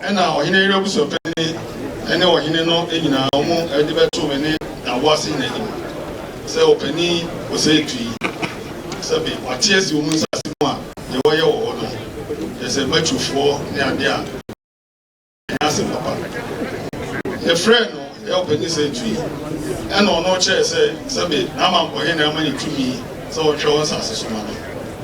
Ɛnna ɔhene yere abusuapanyin ne ɔhene no nyinaa, wɔde bɛtoo me ne Naboase hene anim sɛ ɔpanyin ɔsɛetu yi, sɛbe wɔate asi wɔn nsase mu a deɛ wɔyɛ wɔ hɔ no, kyerɛ sɛ Matrufoɔ ne adeɛ a, ɛnyɛ asɛm papa. Mefrɛɛ no, ɛ, ɔpanyin sɛetu yi, ɛnna ɔno kyerɛe sɛ, sɛbe n'amankɔhene ama no tumi sɛ ɔnhwɛ wɔn nsase so mma no,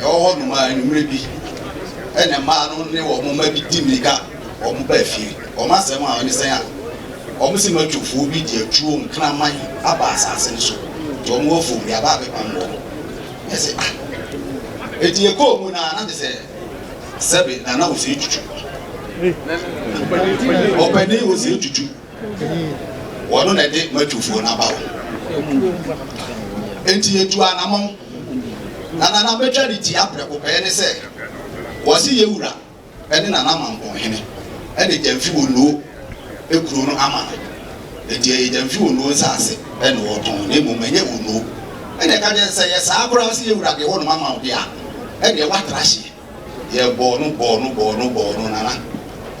ɛwɔ hɔnom a anwummere bi na mmaa no ne wɔn mma bi di mmirika wɔn ba fie. Wɔn asɛm a ɛne sɛn a wɔn se matwofoɔ bi de atuo nkraman aba asase no so nti wɔn wɔ afuom de aba abɛpam wɔn. Mese ah enti yɛkɔɔ mu no a na te sɛ sɛbe Nana Osei Twitwi ɔpanin Osei Twitwi Wɔno na ɛde m'atufoɔ no aba wo. Enti yɛtuu anamɔn, na nana bɛtwa de tia prɛko pɛ ne sɛ wɔse Yewura ne nana Mampong hene ne Gyamfi Onuo kuro no ama no. Enti ɛyɛ Gyamfi Onuo nsaase na wɔtɔn na mmom ɛnyɛ Onuo. Ɛnna ɛka kyerɛɛ sɛ, Sɛ ɛyɛ saa koraa sɛ Yewura de hɔnom ama wo de a, ɛdeɛ woatra hyeɛ. Yɛ bɔɔ no bɔɔ no bɔɔ no bɔɔ no nana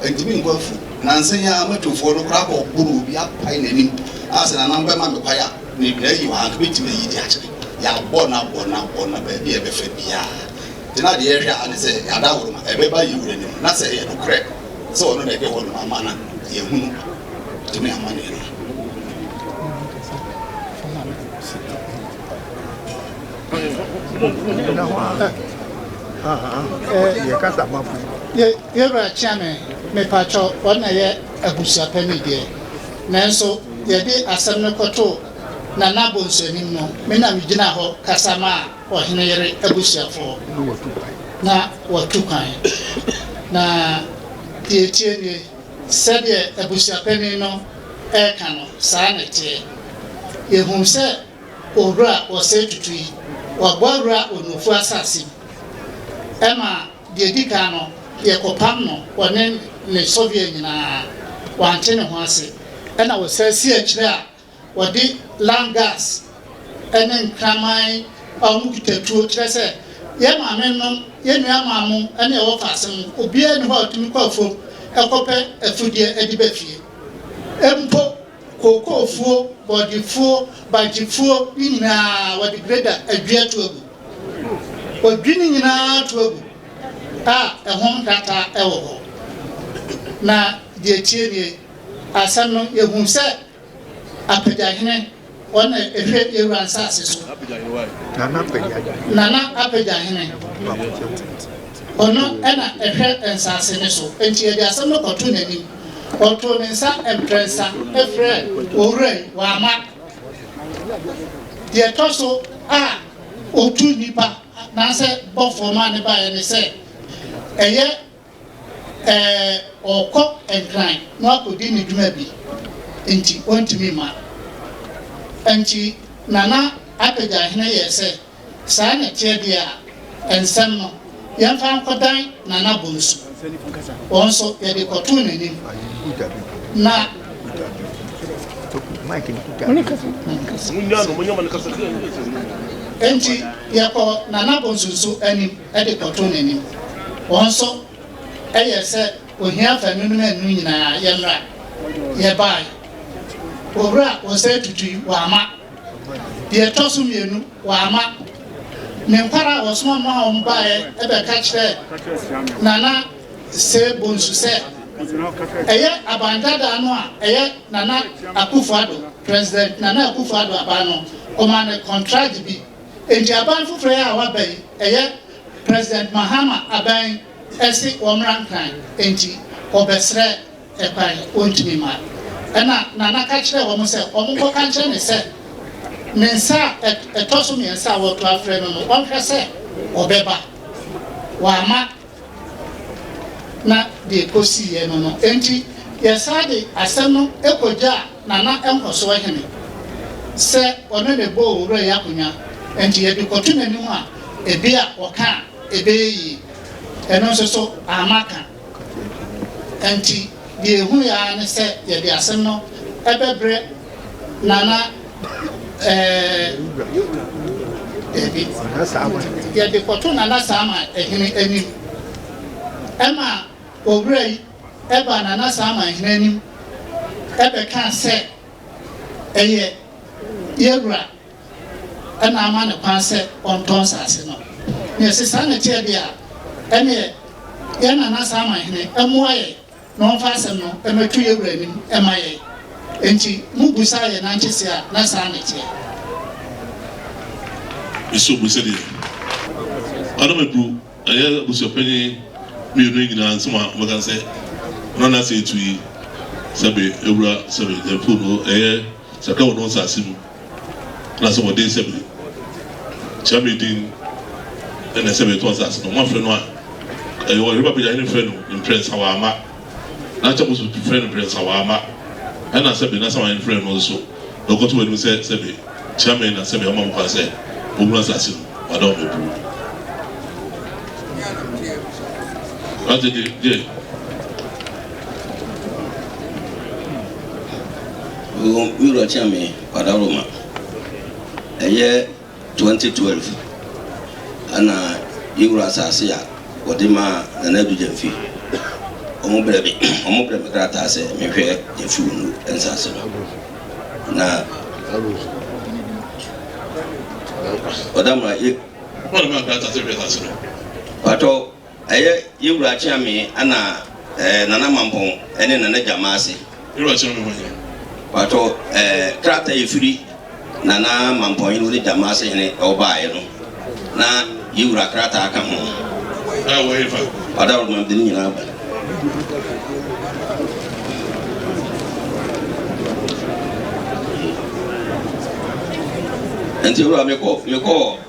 ntumi nkɔ afu nansa yi ara matufoɔ no koraa bɔ boro obi apae nanim a sɛ nana bɛ ma me kwae a me dua yi wɔ ha nka mɛtumi ayi de akyere yɛ abɔ no abɔ no abɔ no baabi a ɛbɛfa biara gyina deɛ ɛhwɛ a ne sɛ ada woro ma ɛbɛba yɛ wura nim na sɛ ɛyɛ no korɛ sɛ ɔno na ɛde hɔ no ma ma na yɛ hunu tumi ama ne no. Yewura Kyeame, mepakyɛw, wɔn na ɛyɛ abusuapanin deɛ, nanso yɛde asɛm no kɔtoo Nana Bonsu anim no, me na megyinaa hɔ kasa maa ɔhene yere abusuafoɔ, na wɔatu kwan. Na deɛ ɛteɛ nie, sɛdeɛ abusuapanin no reka no, saa na ɛteɛ. Yɛhuu sɛ Owura ɔsɛe tutu yi, wɔabɔ awura Onufu asase mu. Ɛma deɛ ɛdi kan no, yɛkɔpam no, ɔne ne sɔvia nyinaa. Wante ne ho ase. Ɛna wɔsan si akyire a, wɔde lung gas ne nkraman a wɔkita tuo, kyerɛ sɛ, yɛn maamenom, yɛn nuammaa mo ne yɛn wɔfaase mo, obiara nni hɔ a ɔtumi kɔ afuom kɔpɛ afudeɛ de ba fie mpo. Kookofuo, bɔɔdefuo, bagyefuo ne nyinaa wɔde greda adwi ato agu. Wɔdwi ne nyinaa to agu a ɛho nkrataa wɔ hɔ. Na deɛ ɛtie nie, asɛm no yɛhunu sɛ Apagyahene, wɔn na ɛhwɛ Yawura nsaase so. Nana Apagyahene, ɔno na ɛhwɛ nsaase no so. Enti yɛde asɛm no kɔto n'anim. Ɔtoo ne nsa mprɛnsa frɛɛ Owura yi, wamma. Deɛ ɛtɔ so a ɔtu nnipa anaasɛ bɔfoɔ maa no baeɛ ne sɛ, ɛyɛ ɛɛ ɔrekɔ Nkran na wakɔdi ne dwuma bi nti ɔntumi mma. Nti Nana Apɛgyahene yɛɛ sɛ. Saa na ɛteɛ deɛ a, nsɛm no, yɛmfa nkɔdan Nana Bonsu. Wɔn nso, yɛde kɔtoo n'anim, na. Enti, yɛkɔɔ Nana Bonsu nso anim de kɔtoo n'anim. Wɔn nso, ɛyɛɛ sɛ ohia fa nnwom no annu nyinaa, yɛmmra. Yɛbaeɛ. Owura Osei Tutu yi, wamma. Deɛ ɛtɔ so mmienu, wamma ne nkwar a wɔsoma maa wɔn baeɛ bɛka kyerɛɛ Nana Sir Bonsu sɛ ɛyɛ aban dadaa no a ɛyɛ Nana Akufo-Addo, President Nana Akufo-Addo aban no, wɔmaa no kɔntragye bi. Enti aban foforɔ yi a waba yi, ɛyɛ President Mahama aban yi se wɔmmra Nkran. Enti wɔbɛsrɛ kwan, ontumi mma. Ɛnna Nana ka kyerɛɛ wɔn sɛ wɔnkɔka nkyerɛ me sɛ ne nsa a ɛtɔ so mmiɛnsa a wɔreto afrɛ no no, ɔnhwɛ sɛ ɔbɛba. Wamma na deɛ ɛkɔsiiɛ no no enti, yɛsan de asɛm no kɔgyaa Nana nkɔsoɔ hene sɛ ɔne no bɔ owura yi akonnwa, enti yɛde kɔto n'anim a, ebia ɔka a, ɛbɛyɛ yie. Ɛno nso so, amma ka. Enti deɛ yɛhunuiɛ ara ne sɛ yɛde asɛm no bɛbrɛ Nana eh-eh-eh-dabi, yɛde kɔto Nana Saama hene anim. Ɛma owura yi baa Nana Saama hene anim bɛkaa sɛ, Ɛyɛ yɛn wura. na ama no kwan sɛ ɔntɔ nsase no. Nea ɛsɛ saa na ɛteɛ deɛ a, ɛnneɛ yɛn Nana Saman Hene mmoa yɛn na ɔmfa asɛm no mmɛto yɛn wura anim mma yɛn. Enti mobu saa a ɛyɛ Nantse se a, na saa na ɛteɛ. Nso bu sɛdeɛ Adam Adu ɛyɛ abusuapanyin mmienu yi nyinaa nsɛm a wɔbɛka sɛ na Nantse retu yi, sɛ me wura, sɛ me Nyamfo no, ɛyɛ Sakra wɔ no nsase mu. Anaasɛ wɔde nsɛm no kyea me din na ɛsɛ metɔ nsase no, moafrɛ no a, ɛyɛ ɔhene ba Bɛgyahene frɛ no mprɛnsa wamma, na kyɛ mo nso frɛ no mprɛnsa wamma, ɛna sɛbe na Samanhene frɛ no nso na ɔkɔto mo anim sɛ sɛbe kyea me na sɛbe ama mo kwan sɛ mohunu asase no, wɔada wɔn abuo. Ate de, deɛ. Mewɔ me wura Kyame Kwadaroma ɛyɛ 2012 ɛna yɛ wura asaase a wɔde maa Nana Addo Gyamfi wɔn brɛ me wɔn brɛ me krataa sɛ me hwɛ Gyamfi Wondo nsaase no na ɔdamra yɛ wɔn brɛ me krataa sɛ hwɛ nsaase no patɔ. Ɛyɛ yɛn Wura Akyeame ɛna ɛɛ Nana Mampong ɛne Nana Gyamase. Yɛwura kyerɛ me hɔ ni. Mpakyɛw ɛɛ krataa a ɛfiri Nana Mampong hene ne Gyamase hene ɛwɔ baeɛ no na yɛn Wura krataa ka ho. Ɛɛ wɔ he fa? Ɔda Roma mede ne nyinaa aba. Nti Wura mekɔ mekɔ.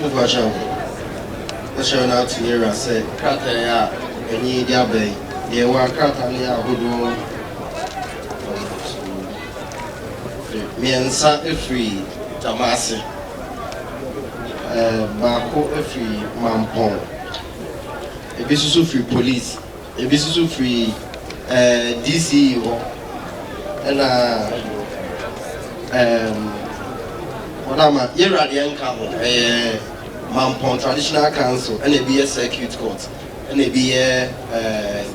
Mokwahyɛ ho. Ɛhyɛ no ato yɛn wura sɛ krataa yi a ɛne yɛn di aba yi, deɛ ɛwɔ a krataa no yɛ ahodoɔ mmiɛnsa firi Tamase, ɛɛ baako firi Mampɔn, ebi nso firi Police. Ebi nso firi DCE hɔ, ɛna wɔn a ma yɛwura deɛ nka ho, ɛyɛ Mampɔn Traditional Council, ɛna ebi yɛ Circuit Court, ɛna ebi yɛ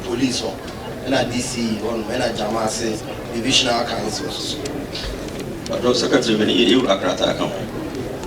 Police hɔ, ɛna DCE hɔ nom, ɛna Gyamase Divisional Council nso so. Ɔdɔ Secretary bɛ ne yɛwura krataa ka ho.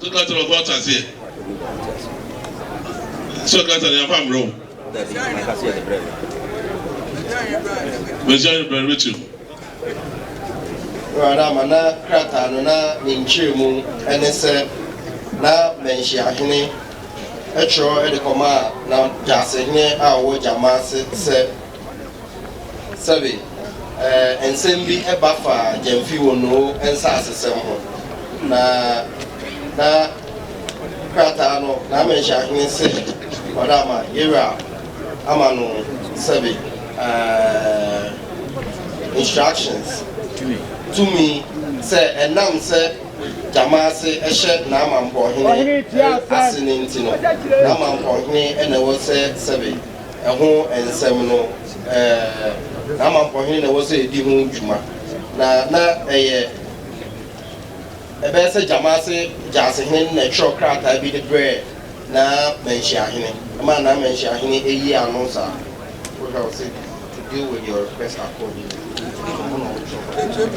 So krataa no ɔfa ɔteaseɛ? So krataa no yɛamfa ammerɛ wo? Mesuaeɛ no berɛ no bɛkyiri mu. Awurade ama na krataa no na ne nkyerɛmu ne sɛ na Mɛnhyiahene twerɛ de kɔmaa na Gyasehene a ɔwɔ Gyama ase sɛ. Sɛbe ɛɛ nsɛm bi ba fa Gyamfi Wonoo nsasesɛm ho, na na krataa no n'amanhyanhene se wɔde ama Yewura ama no sɛbe ɛɛ instructions, tumi, sɛ ɛnam sɛ Gyamaase hyɛ n'amampɔhene ase no nti no, n'amampɔhene na ɛwɔ sɛ sɛbe. Ɛho nsɛm no, na Mampɔhene na ɛwɔ sɛ ɛdi ho dwuma, na na ɛyɛ ɛbɛyɛ sɛ Gyamase Gyaasehene na ɛtwerɛ krataa bi de brɛɛ na Manhyiahene, ɛmaa na Manhyiahene yii ano saa. Wohwɛ a ɔse to deal with your request accordingly, ɔno na ɔtwerɛ.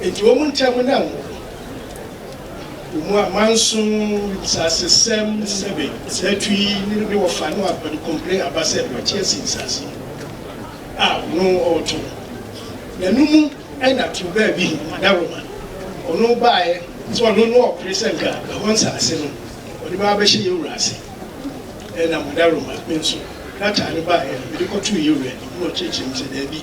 Enti wɔn ntam na ngo wɔ. Wɔn mu amanso, nsasesɛm, sɛbɛ, sɛtu yi ne no de wɔfa ne wɔapɛde kɔmpire aba sɛ deɛ ɔte asi nsase no a ɔno ɔɔto no. Na no mu na to baa bi he, Madaroma, ɔno baeɛ sɛ ɔno ne ɔɔpere sɛ nka ɛhɔ nsase no ɔde bɛba abɛhyɛ yɛ wura ase. Ɛna Madaroma, me nso, krataa no baeɛ he, mede kɔtoo yɛ wura anim na ɔkyerɛkyerɛɛ me sɛ daabi,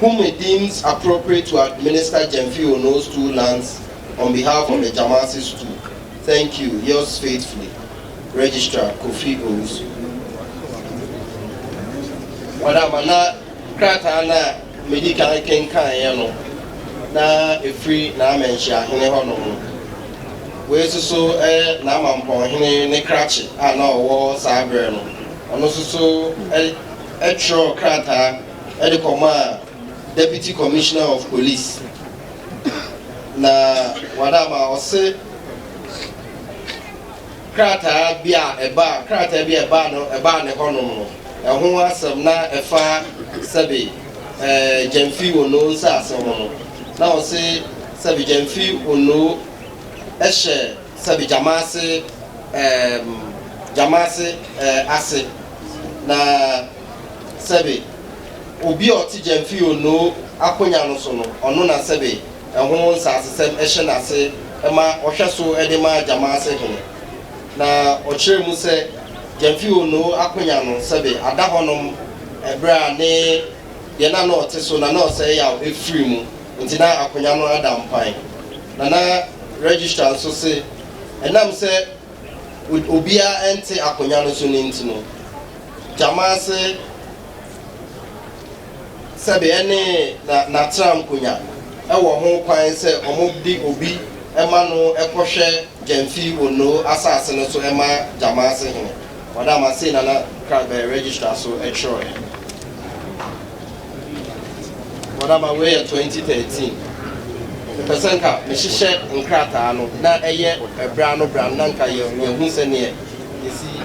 whom he deems appropriate to administer Gyamfi Ono's two lands on behalf of the Gyamase Stool. Thank you, yours faithfully, Registrar Kofi Owusu. Madam, na krataa no a medi kan kenkaneɛ no, na ɛfiri N'Amanhyiahene hɔnom. Wei nso so yɛ N'Amampɔnhene ne krakye a na ɔwɔ saa berɛ no. Ɔno nso so twerɛɛ krataa de kɔmaa Deputy Commissioner of Police, na wɔada ama ɔse krataa bi a ɛbaa krataa bi a ɛbaa no ɛbaa ne hɔnom no, ɛho asɛm na ɛfa sɛbe ɛɛ Gyamfi Onoo nsaase ho no, na ɔse sɛbe Gyamfi Onoo hyɛ. Sɛbe gyama ase ehm gyama ase eh ase na sɛbe Obi a ɔte Gyamfi Onoo akonya no so no ɔno na sɛbe ɛho nsasesɛm hyɛ n'ase ma ɔhwɛ so de ma gyama ase hene Na ɔkyerɛ mu sɛ Gyamfi Onoo akonya no sɛbe ada hɔnom bere a ne deɛ na na ɔte so na na ɔsɛe yaw firi mu Enti na akonnwa no ada mpan, na na registrar nso se ɛnam sɛ obiara nte akonnwa no so no nti no, gyama se sɛbe ɛne n'atram konnya wɔ ho kwan sɛ wɔde obi ma no kɔhwɛ Gyamfi Onnoo asase no so ma gyama se hene. Ɔdama sei na na Kragbɛ registrar so twerɛɛ. Whatever, wei yɛ twenty thirteen. Mepɛ sɛ nka mehyehyɛ nkrataa no na ɛyɛ ɛbrɛ ano brɛ ano na nka yɛ yɛhu sɛdeɛ yɛsi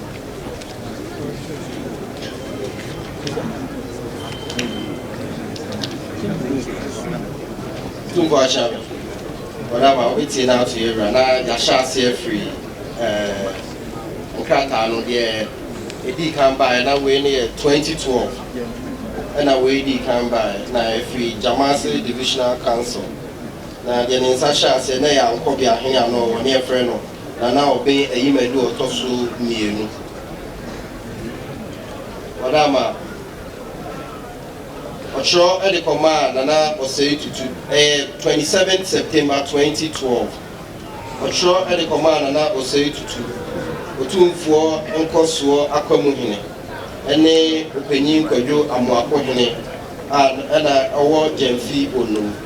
Tumfoɔ Akyang, wɔn ama wobɛtie no ato yɛ wura na yɛahyɛ aseɛ firi eh, nkrataa no deɛ ɛdii kan baeɛ na wei no yɛ 2012 ɛna wei dii kan baeɛ na ɛfiri Gyamase Divisional Council na deɛ ne nsa hyɛ aseɛ na yɛ Ankɔbea Hene ano wɔ ne yɛfrɛ no Na na ɔben Ayimadu a ɔtɔ so mmienu. Wɔde ama. Ɔtwerɛ de kɔmaa Nana Osei Tutu. Ɛyɛ twenty seven September twenty twelve. Ɔtwerɛ de kɔmaa Nana Osei Tutu, Otumfoɔ Nkɔsoɔ Akwamu Hene, ne Ɔpanyin Kwadwo Amoako Hene a na ɔwɔ Gyamfi Onom.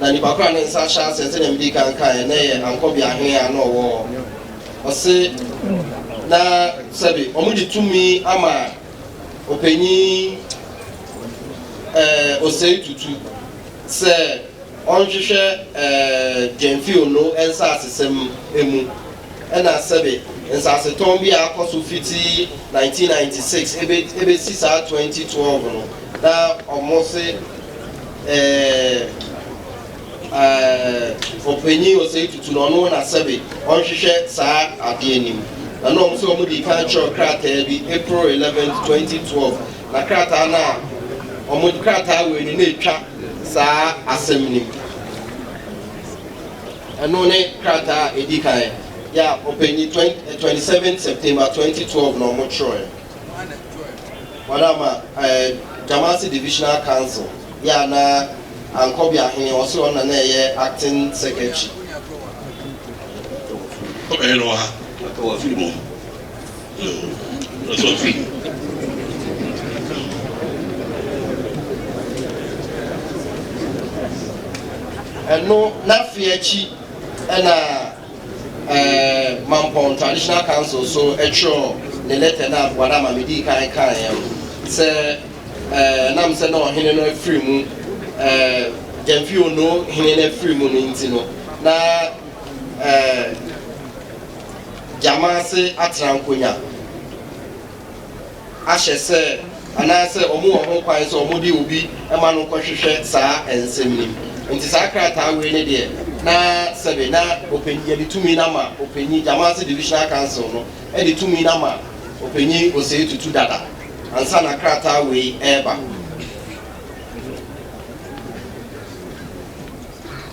Na nnipa koro a ne nsa ahyɛ aseɛ, sɛdeɛ medii kan kaeɛ, na ɛyɛ Ankɔbea he a na ɔwɔ hɔ. Ɔse na sɛbe wɔde tumi ama ɔpanyin ɛɛ Osei Tutu sɛ ɔnhwehwɛ ɛɛ Gyamfil no nsaasesɛm mu, ɛna sɛbe nsaasetɔn bi a akɔ so fiti 1996 ɛbɛ ɛbɛsi saa 2012 no. Na ɔmo se ɛɛh ɛɛh ɔpanyin Osei Tutu na ɔno na sɛbe ɔnhwehwɛ saa adeɛ anim. Na na ɔmo se ɔmo dii kan twerɛ krataa bi April eleventh, twenty twelve, na krataa no a ɔmo krataa wei no na ɛtwa saa asɛm no mu. Ɛno ne krataa a ɛdi kan, ya ɔpanyin twenty seven September, twenty twelve na ɔmo twerɛɛ. Wɔn ama ɛɛ Jamasi Divisional Council yɛ a na Ankɔbi Ahene ɔse ɔno na na ɛyɛ Acting Secretary. Ɔbɛyɛ no wɔ ha. Aka wɔ afiri mu. Ɔsɛ ɔfiri mu. Ɛno n'afeɛ akyi ɛna. Ɛɛ Mampong Traditional Council nso twerɛɛ ne lɛtɛ no aboa no ama medii kan kaeɛ no sɛ ɛɛ nam sɛ na ɔhene no afiri mu ɛɛ Gyamfi Onoo hene no afiri mu no nti no na ɛɛ Gyamase atena nkonya. ahyɛ sɛ anaasɛ wɔwɔ ho kwan sɛ wɔde obi ma no kɔhwehwɛ saa nsɛm yi. Nti saa krataa wei no deɛ na sɛbe na ɔpanyin, yɛde tumi no ama ɔpanyin, Jamasi Divisional Council no de tumi no ama ɔpanyin Osei Tutu dada ansa na krataa wei reba.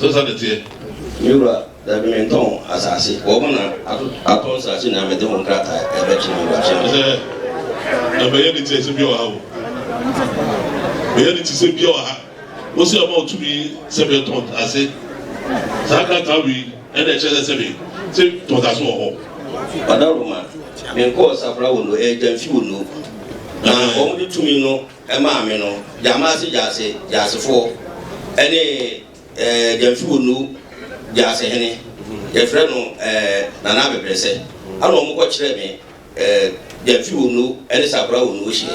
So saa na ɛteɛ? Me wura, dabi, mentɔn asase. Wɔn na atɔ nsase nyinaa, mede ho nkrataa rebɛkyerɛ me wura, kyerɛ no. Ɛsɛ mɛyɛ ne tiɛ sɛ bia wɔ ha o. Mɛyɛ ne ti sɛ bia wɔ ha. Wo sɛ ɔma ɔtumi sɛ bɛ tɔn ase. Saa krataa wei ɛna ɛkyerɛ sɛ sɛ bɛ sɛ tɔn ase wɔ hɔ. Ɔdawuruma, menkɔɔ safra wɔ no, ɛyɛ gyamfi wɔ no. Na wɔn de tumi no maa me no, Gyamase Gyase Gyasefoɔ ne Gyamfiwonu Gyase hene, yɛfrɛ no Nana Abɛbrɛsɛ, ɛna wɔn kɔ kyerɛɛ me Gyamfiwonu ne Sakora Wonu wɔ hyeɛ.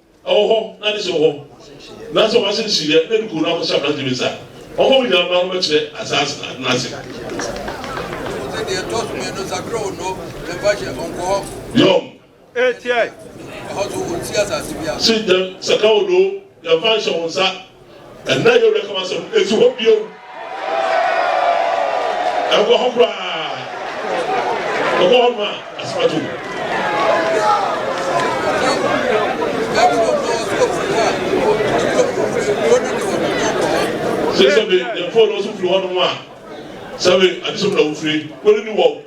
Ɔwɔ hɔ, na ne sɛ ɔwɔ hɔ. Na sɛ wɔahyɛ no kyineɛ, na ɛde kɔn no akɔhyɛ aberante bi nsa a, ɔma ɔnya mma no bɛkyerɛ asaase no atena ase. Yom. Sɛ, Sɛ ka wo no, yɛmfa nhyɛ wo nsa. Ɛnnɛ yɛ Werɛ Kamasɛm nsi hɔ bio. Ɛnkɔ hɔ koraa. Ɛkɔ hɔ nom a, asɛm ato mu. Sɛ sɛbe yɛn fɔɔ no nso firi hɔ nom a, sɛbe adesom na wofiri, kɔre ni wɔ wo.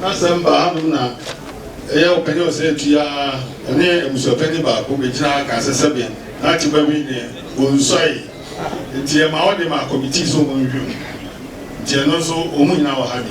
Na sɛ mbaa do na eyɛ ɔpanyin a ɔsɛ etu yi a, ɔnye ebusuapanyin baako begyina ha ka asɛsɛm bi na akye ba bi nye wonnsuae. Ntsi yɛma wɔde ma kɔmitii sɛ wɔnhwɛ mu. Ntsi ɛno so wɔn nyinaa wɔ ha bi?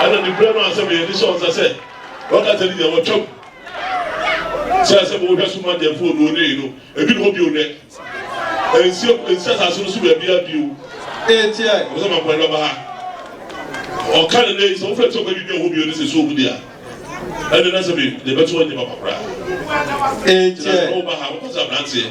Ɛna ne kura no asɛm yɛ ne sɛ ɔnsa sɛ ɔka sɛ ne deɛ wɔtwam sɛ ɛsɛ mo wohwɛ so ma deɛ fo no onee no ebi ne hɔ bio nɛ ɛnsi ɛnsi asase no so baabi a bio ɛti ɛ ɔsɛ ma mpɔn bɛba ha ɔka ne nɛ sɛ wofɛ sɛ ɔbɛbi bi a hɔ bio ne sɛ so ɔmu deɛ ɛne na sɛ me deɛ bɛto ɔnyɛ papa koraa ɛti ɛ ɔba ha ɔkɔ sɛ abranteɛ